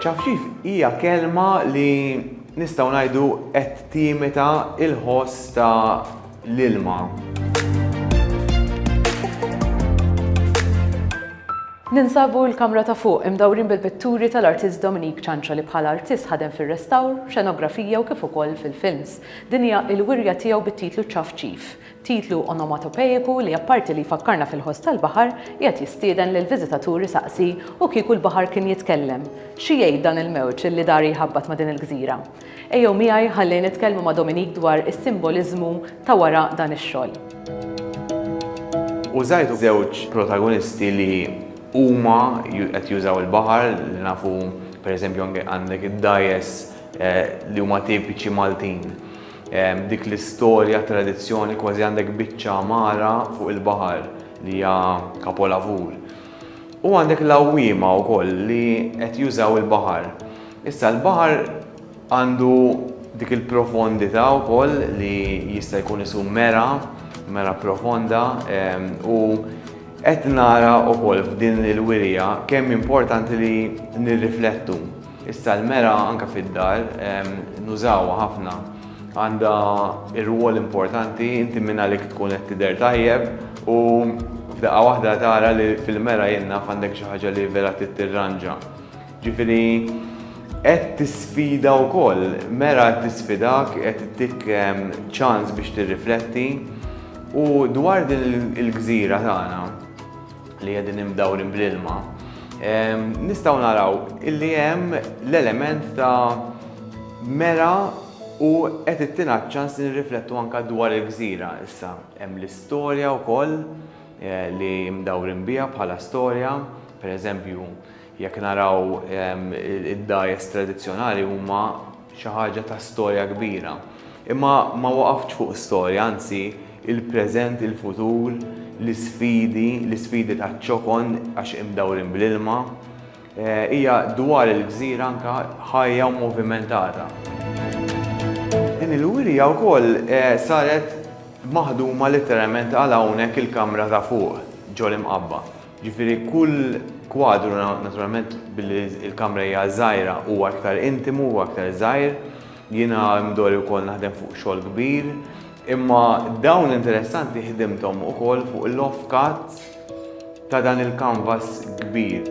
Ċafċif hija kelma li nistgħu ngħidu qed timita il-ħoss ta' l-ilma. Ninsabu l-kamra ta' fuq imdawrin bil-pitturi tal-artist Dominique Ċanċa li bħala artist ħadem fir-restawr, xenografija u kif ukoll fil-films. Din hija l-wirja tiegħu bit-titlu Ċafċif. Titlu onomatopejiku li apparti li jfakkarna fil-ħoss tal-baħar, qiegħed jistieden lill-viżitatur isaqsi u kieku l-baħar kien jitkellem, xi jgħid dan il-mewġ li dari jħabbat ma' din il-gżira? Ejjew miegħi ħalli nitkellmu ma' Dominique dwar is-simboliżmu ta' wara dan ix-xogħol. Użajt żewġ protagonisti li huma qed jużaw il-baħar li nafu pereżempju anke għandek id-dgħajjes li huma tipiċi Maltin. Dik l-istorja, tradizzjoni, kważi għandek biċċa mara fuq il-baħar li hija kapolavur. U għandek l-għawwiema wkoll li qed jużaw il-baħar. Issa l-baħar għandu dik il-profondità wkoll li jista' jkun isu mera, mera profonda u qed nara wkoll f'din il-wirija kemm importanti li nirriflettu Issa l-mera anke fid-dar nużawha ħafna. Għandha rwol importanti, inti minn għalik tkun qed tidher tajjeb u f'daqqa waħda tara li fil-mera jien naf għandek xi ħaġa li vera trid tirranġa. Ġifieri qed tisfida wkoll, mera qed tisfidak, qed ittik ċans biex tirrifletti u dwar din il-gżira tagħna. li qegħdin imdawrin bl-ilma, nistgħu naraw illi hemm l-element ta' mera u qed ittina ċans li nirriflettu anke dwar il-gżira issa. Hemm l-istorja wkoll eh, li mdawrin biha bħala storja, pereżempju Jekk naraw id-dgħajjes tradizzjonali huma xi ħaġa ta' storja kbira. Imma ma waqaftx fuq storja, anzi, il-preżent, il-futur, l-isfidi, l-isfidi taċ-ċokon għax imdawrin bl-ilma. Hija dwar il-gżira anke ħajja u movimentata. Din il-wirja wkoll saret maħduma litteralment għal hawnhekk il-kamra ta' fuq, ġol-Imqabba. Jiġifieri kull kwadru naturalment billi l-kamra hija żgħira huwa iktar intimu, huwa iktar żgħir. Jiena mdorri wkoll naħdem fuq xogħol kbir, imma dawn interessanti ħdimthom ukoll fuq l-off cut ta' dan il-kanvas kbir.